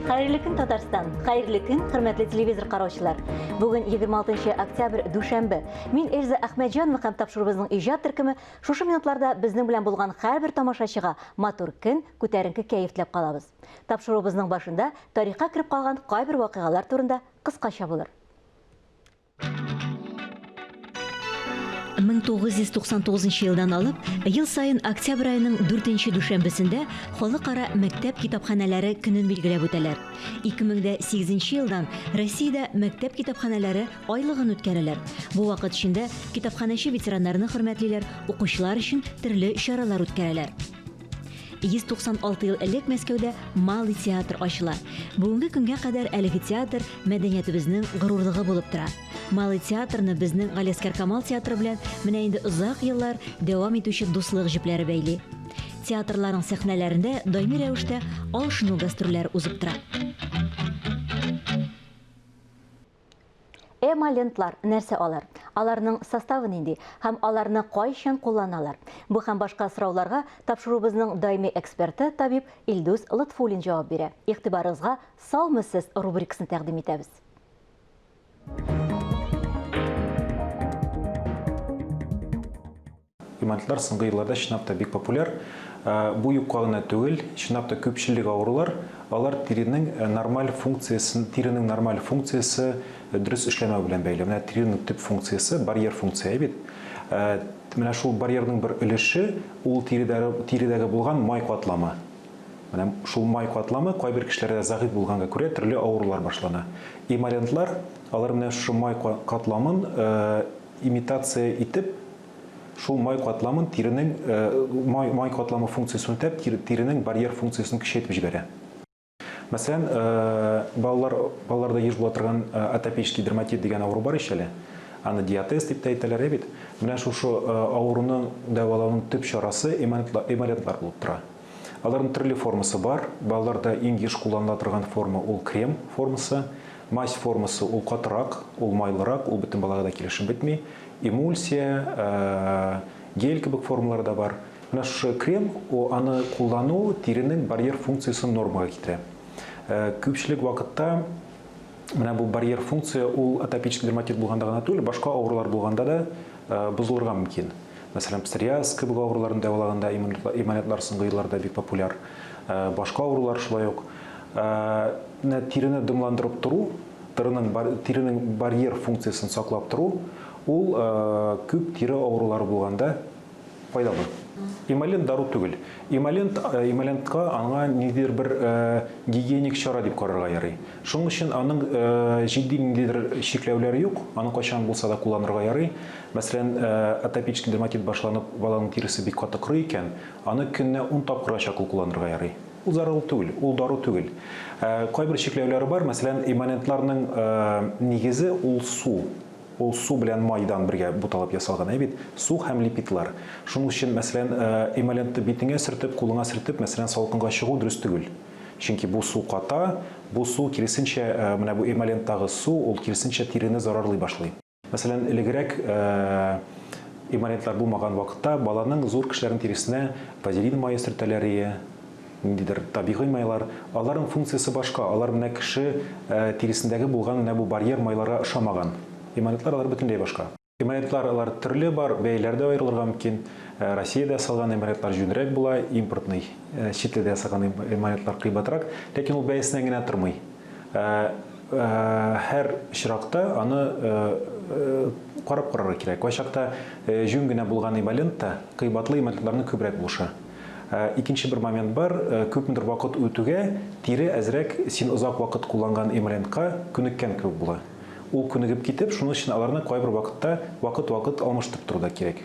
Хәерле көн, Татарстан! Хәерле көн, хөрмәтле телевизор караучылар! Бүген 26 октябрь, дүшәмбе. Мин Эльза Әхмәтҗанова һәм тапшыруыбызның иҗат төркеме шушы минутларда безнең белән булган һәрбер тамашачыга матур көн, күтәренке кәеф теләп калабыз. Тапшыруыбызның башында тарихка кереп калган кайбер вакыйгалар турында кыскача булыр. 1999 елдан алып, ел саен октябрь аеның 4 дүшәмбесендә Халыкара мәктәп китапханәләре көнен билгеләп үтәләр. 2008 елдан Россиядә мәктәп китапханәләре айлыгын үткәрәләр. Бу вакыт эчендә китапханәче ветераннарны хөрмәтлиләр, укучылар өчен төрле чаралар үткәрәләр. 196 ел элек Мәскәүдә Малый театр ачыла. Бүгенге көнгә кадәр әлеге театр мәдәниятебезнең горурлыгы булып тора. Малый театрны безнең Галиәскәр Камал театры белән менә инде озак еллар дәвам итүче дуслык җепләре бәйли. Театрларның сәхнәләрендә даими рәвештә алышыну гастрольләре узып тора. Эмолентлар нәрсә алар? Аларның составы нинди һәм аларны кайчан кулланалар? Бу һәм башка сорауларга тапшыруыбызның даими эксперты, табиб Илдус Лотфуллин җавап бирә. Игътибарыгызга Саумы сез рубрикасын тәкъдим итәбез. Гематитлар соңгы елларда чынлап та бик популяр. Бу юкка гына түгел, чынлап та күпчелек авырулар, алар тиренең нормаль функциясен, тиренең нормаль функциясе дөрес эшләмәү белән бәйле. Менә тиренең төп функциясе, барьер функция бит. Менә шул барьерның бер өлеше, ул тиредәге, тиредәге булган май катламы. Менә шул май катламы кайбер кешеләрдә зәгыйфь булганга күрә төрле авырулар башлана. Эмолянтлар, алар менә шушы май катламын Имитация итеп, шул май катламын тиренең май май катламы функциясен үтәп, тиренең барьер функциясен көчәйтеп җибәрә. Мәсәлән, балалар балаларда еш була торган атопический дерматит дигән авыру бар ич әле. Аны диатез дип тә әйтәләр, ә бит? Менә шушы авыруны дәвалауның төп чарасы эмолентлар булып тора. Аларның төрле формасы бар. Балаларда иң еш кулланыла торган форма ул крем формасы. Мазь формасы ул катырак, ул майлырак, ул бөтен балага да килешеп бетми. Эмульсия, гель кебек формалары да бар. Менә шушы крем, аны куллану тиренең барьер функциясен нормага китерә. Күпчелек вакытта менә бу барьер функция ул атопический дерматит булганда гына түгел, башка авырулар булганда да бозылырга мөмкин. Мәсәлән, псориаз кебек авыруларын дәвалаганда иммунитетлар соңгы елларда бик популяр. Башка авырулар шулай ук. Менә тирене дымландырып тору, тиренең барьер функциясен саклап тору, ул күп тире авырулары булганда файдалы. Эмолент дару түгел. Эмолент, эмолентка аңа ниндидер бер гигиеник чара дип карарга ярый. Шуның өчен аның җитди ниндидер чикләүләре юк, аны кайчан булса да кулланырга ярый. Мәсәлән, атопический дерматит башланып, баланың тиресе бик каты корый икән, аны көненә ун тапкырга чаклы кулланырга ярый. Ул зарыл түгел, ул дару түгел. Кайбер чикләүләре бар, мәсәлән, эмолентларның нигезе ул су. Ул су белән майдан бергә буталып ясалган, әй бит, су һәм липидлар. Шуның өчен, мәсәлән, эмолентны битеңә сөртеп, кулыңа сөртеп, мәсәлән, салкынга чыгу дөрес түгел. Чөнки бу су ката, бу су, киресенчә, менә бу эмоленттагы су, ул киресенчә тирене зарарлый башлый. Мәсәлән, элегрәк имманентлар булмаган вакытта баланың зур кешеләрнең тиресенә вазелин мае сөртәләр ие, ниндидер табигый майлар. Аларның функциясе башка, алар менә кеше тиресендәге булган менә бу барьер майларга ошамаган. Имманентлар алар бөтенләй башка. Имманентлар алар төрле бар, бәяләре дә аерылырга мөмкин. Россиядә ясалган имманентлар җүнрәк була, импортный, чит илдә ясаган имманентлар кыйбатрак, ләкин ул бәясеннән генә тормый. Ә һәр очракта аны карап карарга кирәк. Кайчакта җүн генә булган ивалент та кыйбатлы эмальтларның күбрәк булыша. Ә икенче бер момент бар, күпмедер вакыт үтүгә тире әзрәк син озак вакыт кулланган эмалентка күнеккән кебек була. Ул күнегеп китеп, шуның өчен аларны кайбер вакытта вакыт-вакыт алмаштырып тору да кирәк.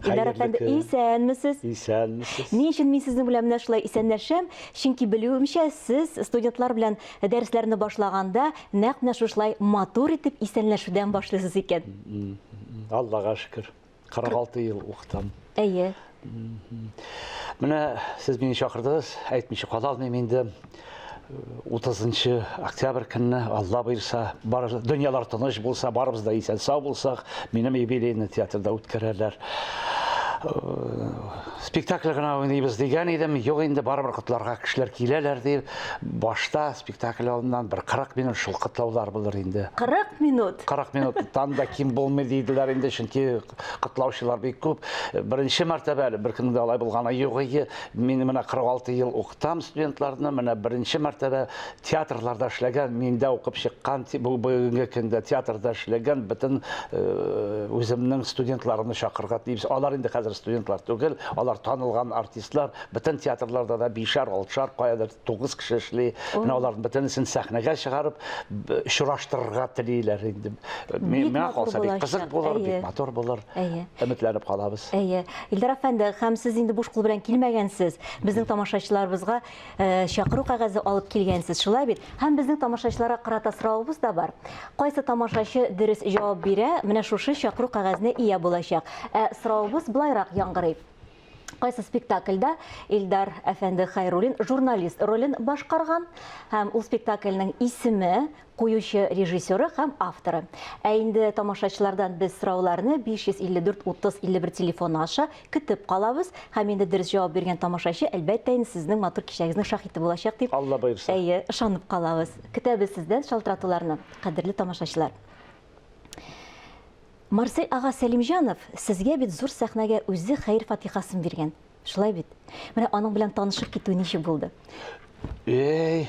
Илдар әфәнде, исәнмесез. Исәнмесез. Ни өчен мин сезнең белән менә шулай исәнләшәм? Чөнки белүемчә, сез студентлар белән дәресләрне башлаганда нәкъ менә шушылай матур итеп исәнләшүдән башлыйсыз икән. Аллага шөкер. 46 ел укытам. Әйе. Менә сез мине чакырдыгыз, әйтмичә кала алмыйм инде. 30 октябрь көнне алла боерса бар дөньялар тыныч булса барыбыз да исән сау булсак минем юбилейный театрда үткәрәләр э, спектакль гына уйныйбыз дигән идем юк инде барыбер котларга кешеләр киләләр дип башта спектакль алдыннан бер 40 минут шул котлаулар булыр инде 40 минут 40 минуттан да ким булмый диделәр инде чөнки котлаучылар бик күп. Беренче мәртәбә әле беркемнең дә алай булганы юк. Мин менә 46 ел укытам студентларны, менә беренче мәртәбә театрларда эшләгән, миндә укып чыккан, бу бүгенге көндә театрда эшләгән бөтен э, үземнең студентларымны чакырга тиеш. Алар инде хәзер студентлар түгел, алар танылган артистлар, бөтен театрларда да бишәр, алтышар каядыр тугыз кеше эшли менә аларның бөтенесен сәхнәгә чыгарып очраштырырга телиләр инде миңа калса бик кызык булыр бик матур булыр өметләнеп калабыз әйе илдар әфәнде һәм сез инде буш кул белән килмәгәнсез безнең тамашачыларыбызга э, чакыру кәгазе алып килгәнсез шулай бит һәм безнең тамашачыларга карата соравыбыз да бар кайсы тамашачы дөрес җавап бирә менә шушы чакыру кәгазенә ия булачак ә соравыбыз былайрак яңгырый Кайсы спектакльдә Илдар әфәнде Хайруллин журналист ролен башкарган һәм ул спектакльнең исеме, куючы режиссеры һәм авторы. Ә инде тамашачылардан без сорауларны 554 30 51 телефоны аша көтеп калабыз. Һәм инде дөрес җавап биргән тамашачы, әлбәттә инде, сезнең матур кичәгезнең шаһиты булачак дип, Алла боерса. Әйе, ышанып калабыз. Көтәбез сездән шалтыратуларны, кадерле тамашачылар. Марсель ага Сәлимҗанов сезгә бит зур сәхнәгә үзе хәер-фатихасын биргән, шулай бит? Менә аның белән танышып китү ничек булды? Эй,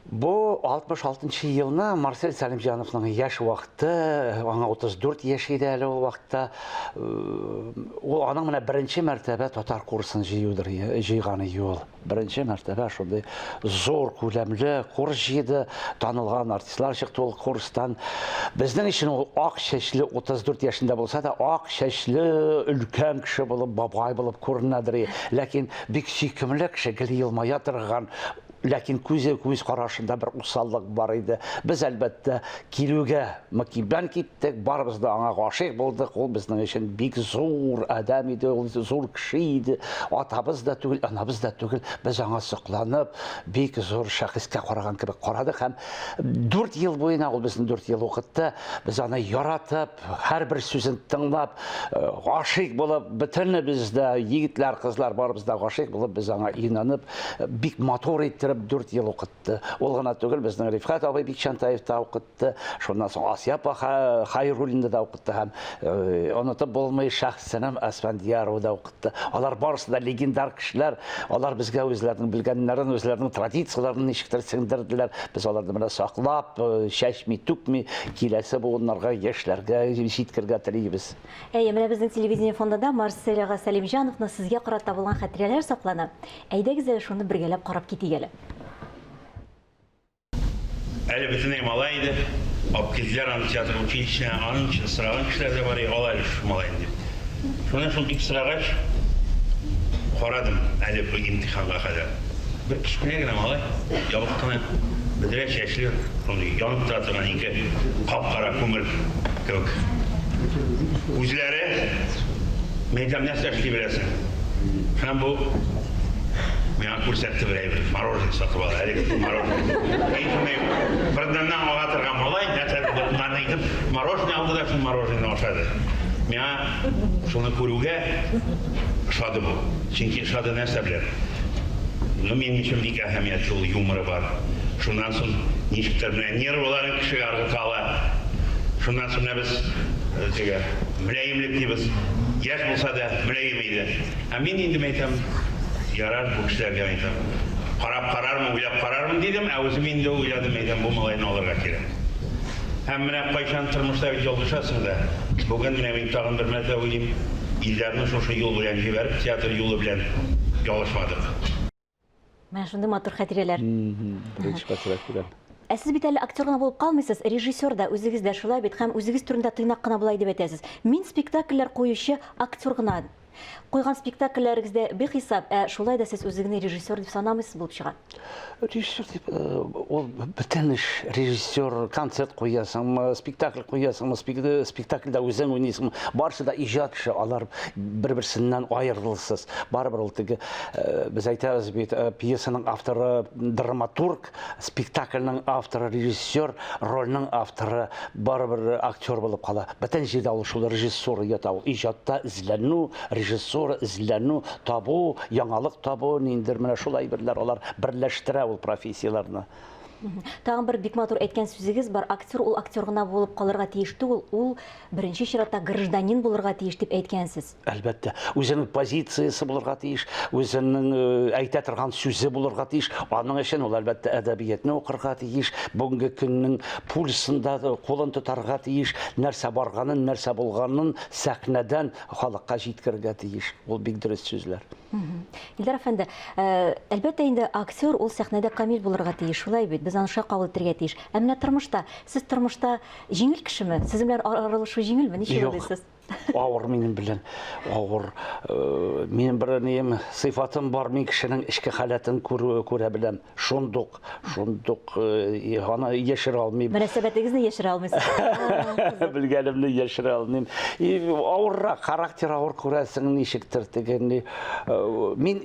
бу 66 нчы елны Марсель Сәлимҗановның яшь вакыты, аңа 34 яшь иде әле ул вакытта. Ул аның менә беренче мәртәбә татар курсын җыюдыр, җыйганы юл. Беренче мәртәбә шундый зур күләмле курс җыйды, танылган артистлар чыкты ул курстан. Безнең өчен ул ак чәчле 34 яшендә булса да, ак чәчле өлкән кеше булып, бабай булып күренәдер. Ләкин бик сөйкемле кеше, гел елмая торган, ләкин күзе күз карашында бер усаллык бар иде. Без әлбәттә килүгә мөкиббән кит Тик барыбыз да аңа гашыйк булдык, ул безнең өчен бик зур адәм иде, ул зур кеше иде. Атабыз да түгел, анабыз да түгел. Без аңа сокланып, бик зур шәхескә караган кебек карадык һәм 4 ел буена ул безне 4 ел укытты. Без аны яратып, һәрбер сүзен тыңлап, э, гашыйк булып, бөтенебез дә, егетләр, кызлар барыбыз да гашыйк булып, без аңа инанып, э, бик матур иттереп 4 ел укытты. Ул гына түгел, безнең Рифкат абый Бикчантаев та укытты. укытты. Шуннан соң Асия апа Хайруллинда да укытты һәм э, онытып булмый шәхсенем Асфандиярова да укытты. Алар барысы да легендар кешеләр. Алар безгә үзләренең белгәннәрен, үзләренең традицияләрен ничектер сеңдерделәр. Без аларны менә саклап, э, чәчми, түкми, киләсе буыннарга, яшьләргә җиткергә телибез. Әйе, менә безнең телевидение фондында Марсель ага Сәлимҗановны сезгә карата булган хәтирәләр саклана. Әйдәгез әле шуны бергәләп карап китик әле. Әле бөтенләй малай иде. Абкизләр аны театр училищесына, аның өчен сораган кешеләр дә бар иде, ал әле шушы малайны дип. Шуны шул дип сорагач, карадым әле бу имтиханга кадәр. Бер кечкенә генә малай, ябык кына, бөдрә чәчле, шундый янып тора торган ике кап-кара күмер кебек күзләре. Мин әйтәм, нәрсә эшли беләсең? Һәм бу Күрсәтте бер әйбер, мороженое сатып ал, әлеге дип мороженое. Мин шуны фырданнан ага торган малай, нәрсә булды моңарны әйтеп, мороженое алды да шул мороженое ашады. Миңа шуны күрүгә ошады бу. Чөнки ошады нәрсә белән? Ну, минем өчен бик әһәмиятле ул, юморы бар. Шуннан соң ничектер менә нервыларын кешегә ыргыта ала. Шуннан соң менә без теге мөлаемлек дибез. Яшь булса да мөлаем. Диде. Ә мин инде мәйтәм, Ярар, бу кешеләргә мәйтәм, карап карармын, уйлап карармын, дидем, ә үзем инде уйладым, мәйтәм, бу малайны алырга кирәк. Һәм менә кайчан, тормышта бит ялгышасың да, бүген менә мин тагын бер мәртәбә уйлыйм, Илдарны шушы юл белән җибәреп, театр юлы белән ялгышмадык. Менә шундый матур хәтирәләр. Беренче хәтирә килә. Ә сез бит әле актер гына булып калмыйсыз, режиссер да, үзегез дә шулай бит һәм үзегез турында тыйнак кына болай дип әйтәсез. Мин спектакльләр куючы актер гына. Куйган спектакльләрегез дә бихисап, ә шулай да сез үзегезне режиссер дип санамыйсыз булып чыга. Режиссер дип, ул э, бөтен эш. Режиссер, концерт куясыңмы, спектакль куясыңмы, спектакльдә үзең уйныйсыңмы, барысы да иҗат эше, алар бер-берсеннән аерылсыз. Барыбер ул теге э, без әйтәбез бит, э, пьесаның авторы драматург, спектакльның авторы режиссер, рольның авторы барыбер актер булып кала. Бөтен җирдә ул шул режиссура ята ул. Иҗатта эзләнү, режиссура эзләнү, табу, яңалык табу, ниндер менә шул әйберләр алар берләштерә ул профессияләрне. Тагын бер бик матур әйткән сүзегез бар. Актер ул актер гына булып калырга тиеш түгел, ул беренче чиратта гражданин булырга тиеш дип әйткәнсез. Әлбәттә, үзенең позициясе булырга тиеш, үзенең э, әйтә торган сүзе булырга тиеш. Аның өчен ул әлбәттә әдәбиятны укырга тиеш, бүгенге көннең пульсында кулын тотарга тиеш, нәрсә барганын, нәрсә булганын сәхнәдән халыкка җиткерергә тиеш. Ул бик дөрес сүзләр. Илдар әфәнде, э, әлбәттә инде актер ул сәхнәдә камил булырга тиеш, шулай бит, без аны шулай кабул итәргә тиеш. Ә менә тормышта, сез тормышта җиңел кешеме? Сез белән аралашу җиңелме? Ничек уйлыйсыз? Авыр минем белән, авыр. Э, минем бер нем сыйфатым бар, мин кешенең эчке халәтен күрү күрә беләм. Шундук, шундук э, аны яшерә алмыйм. Мөнәсәбәтегезне яшерә алмыйсыз. Белгәнемне яшерә алмыйм. И авыррак, характер авыр күрәсең ничектер дигәнне. Э, мин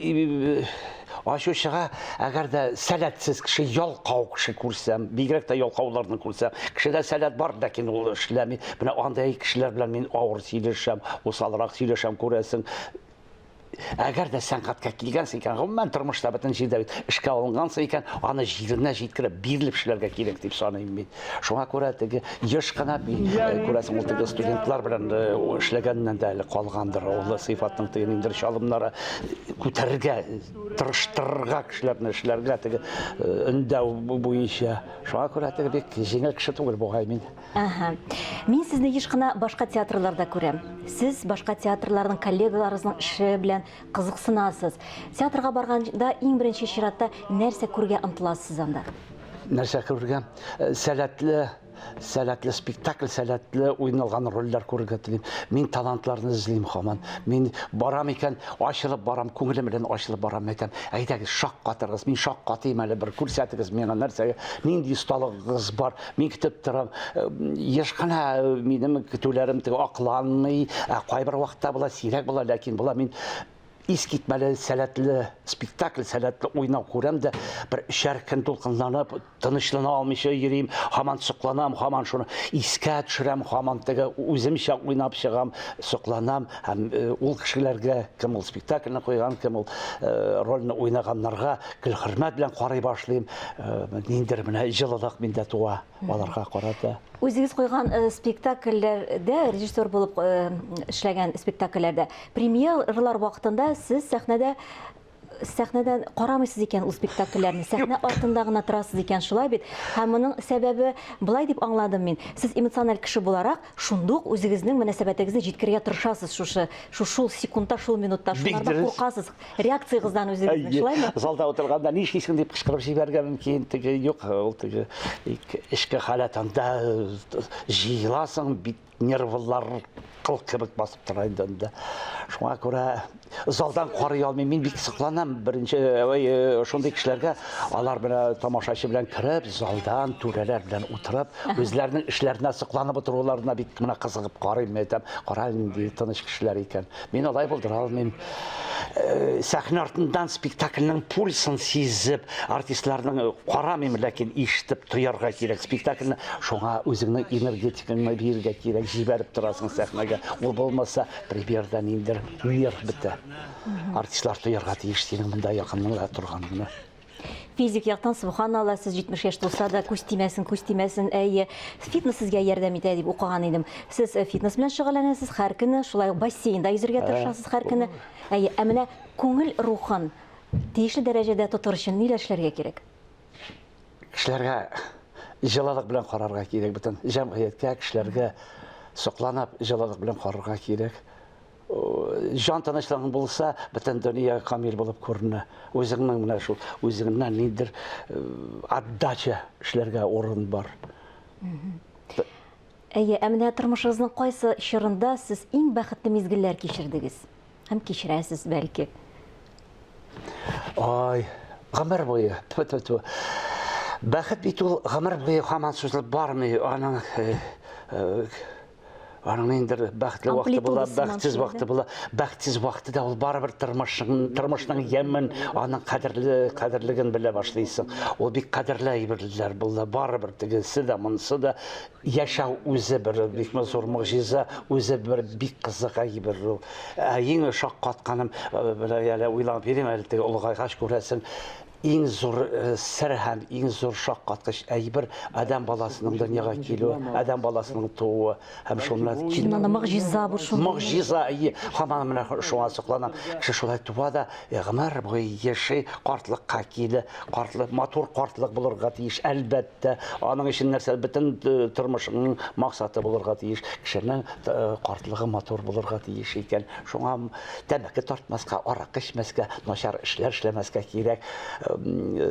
Ачу чыга, әгәр дә сәләтсез кеше, ялкау кеше күрсәм, бигрәк тә ялкауларны күрсәм, кешедә сәләт бар, ләкин ул эшләми. Менә андый кешеләр белән мин авыр сөйләшәм, усалрак сөйләшәм, күрәсең. Әгәр дә сәнгатькә килгәнсең икән, гомумән тормышта бөтен җирдә бит эшкә алынгансың икән, аны җиренә җиткереп, бирелеп эшләргә кирәк дип саныйм мин. Шуңа күрә теге еш кына бит, э, күрәсең, ул теге студентлар белән э, эшләгәннән дә әле калгандыр. Ул сыйфатның теге ниндидер чалымнары күтәрергә, тырыштырырга кешеләрне эшләргә теге э, өндәү бу- буенча. Шуңа күрә теге бик җиңел кеше түгел бугай мин. Ага. Мин сезне еш кына башка театрларда күрәм. Сез башка театрларның коллегаларыгызның эше белән кызыксынасыз. Театрга барганда иң беренче чиратта нәрсә күрергә омтыласыз анда? нәрсә күрергә э, сәләтле сәләтле спектакль сәләтле уйналган рольләр күрергә телим мин талантларны эзлим хаман мин барам икән ачылып барам күңелем белән ачылып барам әйтәм әйдәгез шаккатыргыз мин шаккатыйм әле бер күрсәтегез миңа нәрсәгә нинди осталыгыгыз бар мин көтеп торам э, еш кына э, минем көтүләрем акланмый ә кайбер вакытта була сирәк була ләкин була мин искитмәле сәләтле спектакль сәләтле уйнау күрәм дә бер өчәр көн дулкынланып тынычлана алмыйча йөрим һаман сокланам һаман шуны искә төшерәм һаман теге үземчә уйнап чыгам сокланам һәм э, ул кешеләргә кем ул спектакльне куйган кем ул э, рольне уйнаганнарга гел хөрмәт белән карый башлыйм э, ниндидер менә җылылык миндә туа аларга карата. Үзегез куйган э, спектакльләрдә, режиссер булып э, эшләгән спектакльләрдә, премьерлар вакытында сез сәхнәдә сәхнәдән карамыйсыз икән ул спектакльләрне, сәхнә артында гына торасыз икән, шулай бит. Һәм моның сәбәбе былай дип аңладым мин. Сез эмоциональ кеше буларак, шундук үзегезнең мөнәсәбәтегезне җиткерергә тырышасыз шушы, шул секундта, шул минутта, шулардан куркасыз. реакциягыздан үзегезне, шулаймы? Залда утырганда ни эшлисең дип кычкырып җибәрергә мөмкин, теге юк, ул теге эчке халәт анда җыеласың, бит нервлар кыл кебек басып тора инде анда. Шуңа күрә залдан карый алмыйм, мин бик сокланам беренче э, шундый кешеләргә, алар менә тамашачы белән кереп, залдан түрәләр белән утырып, үзләренең эшләренә сокланып утыруларына бик менә кызыгып карыйм, әйтәм, кара нинди тыныч кешеләр икән. Мин алай булдыра алмыйм. Э, сәхнә артыннан спектакльнең пульсын сизеп, артистларның э, карамыйм, ләкин ишетеп тоярга кирәк спектакльне. Шуңа үзеңнең энергетикаңны бирергә кирәк, җибәреп торасың сәхнәгә. Ул булмаса, примерда ниндер нерв бетә. Артистлар тоярга тиеш синең монда якыныңда торганыңны. Физик яктан субханалла, сез 70 яшь тулса да күз тимәсен, күз тимәсен. Әйе, фитнес сезгә ярдәм итә дип укыган идем. Сез э, фитнес белән шөгыльләнәсез һәр көне, шулай ук бассейнда йөзергә тырышасыз һәр көне. Әйе, ә менә күңел рухын тиешле дәрәҗәдә тотыр өчен ниләр эшләргә кирәк? Кешеләргә җылылык белән карарга кирәк бөтен җәмгыятькә, кешеләргә сокланып җылылык белән карарга кирәк. Җан тынычлыгың булса, бөтен дөнья камил булып күренә. Үзеңнең менә шул үзеңнән ниндер э, отдача эшләргә урын бар. Әйе, ә менә тормышыгызның кайсы чорында сез иң бәхетле мизгелләр кичердегез? Һәм кичерәсез, бәлки. Ай, гомер буе, тфу тфу тфу. Бәхет бит ул гомер буе һаман сузылып бармый, аның э, э, аның инде бәхетле вакыты була, бәхетсез вакыты була. Бәхетсез вакыты да ул барыбер тормышның тормышның ямен, аның кадерле кадерлеген белә башлыйсың. Ул бик кадерле әйберләр булды. Барыбер тегесе дә, монысы да яшәү үзе бер бик зур могҗиза, үзе бер бик кызык әйбер ул. Ә иң шаккатканым, э, белә әле уйлап йөрим әле теге олыгайгач күрәсең, иң зур э, сер һәм иң зур шаккаткыч әйбер адәм баласының дөньяга килүе, адәм баласының тууы һәм шуны кил... Мына могҗиза бу шул. Могҗиза, әйе, һаман менә шуңа сокланам. Кеше шулай туа да э, гомер буе яши, картлыкка килә, картлык матур картлык булырга тиеш, әлбәттә. Әлбәттә, аның өчен нәрсә бөтен э, тормышыңның максаты булырга тиеш. Кешенең э, картлыгы матур булырга тиеш икән. Шуңа тәмәке тартмаска, аракы эчмәскә, начар эшләр эшләмәскә кирәк.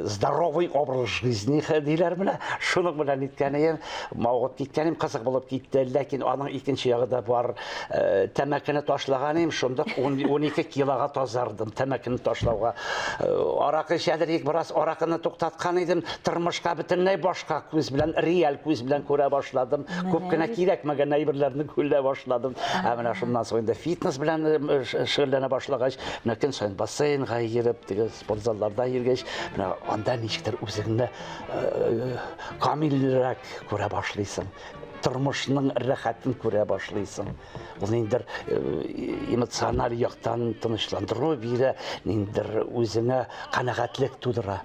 Здоровый образ жизни диләр менә. Шуның белән иткәнем, мавыгып киткәнем кызык булып китте. Ләкин аның икенче ягы да бар. Э, тәмәкене ташлаган идем шундук он ике килога тазардым тәмәкене ташлауга э, аракы эчәдер идек бераз аракыны туктаткан идем тормышка бөтенләй башка күз белән реаль күз белән күрә башладым күп кенә кирәкмәгән әйберләрне күлә башладым ә менә шуннан соң инде фитнес белән э, шөгыльләнә башлагач менә көн саен бассейнга йөреп теге спорт залларда йөргәч менә анда ничектер үзеңне камилрәк күрә башлыйсың тормышның рәхәтен күрә башлыйсың ул ниндидер э, эмоциональ яктан тынычландыру бирә ниндидер үзеңә канәгатьлек тудыра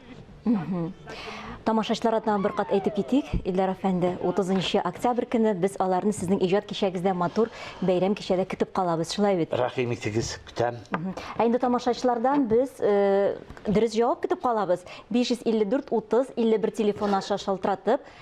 Тамашачыларга тагын бер кат әйтеп китик, Илдар әфәнде, 30 октябрь көне без аларны сезнең иҗат кичәгездә матур бәйрәм кичәдә көтеп калабыз, шулай бит? Рәхим итегез, көтәм. Ә инде тамашачылардан без э, дөрес җавап көтеп калабыз. 554 30 51 телефон аша шалтыратып,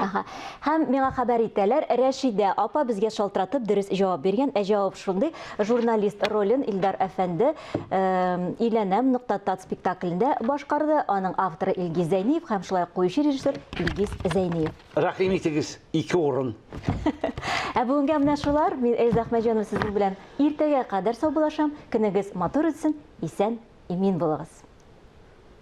Ага. Һәм миңа хәбәр итәләр, Рәшидә апа безгә шалтыратып дөрес җавап биргән. Ә җавап шундый, журналист ролен Илдар әфәнде Иләнәм нокта тат спектаклендә башкарды. Аның авторы Илгиз Зәйниев һәм шулай ук куючы режиссер Илгиз Зәйниев. Рәхим итегез, ике урын. Ә бүгенгә менә шулар. Мин Эльза Әхмәҗанова сезнең белән иртәгә кадәр саубуллашам. Көнегез матур үтсен, исән, имин булыгыз.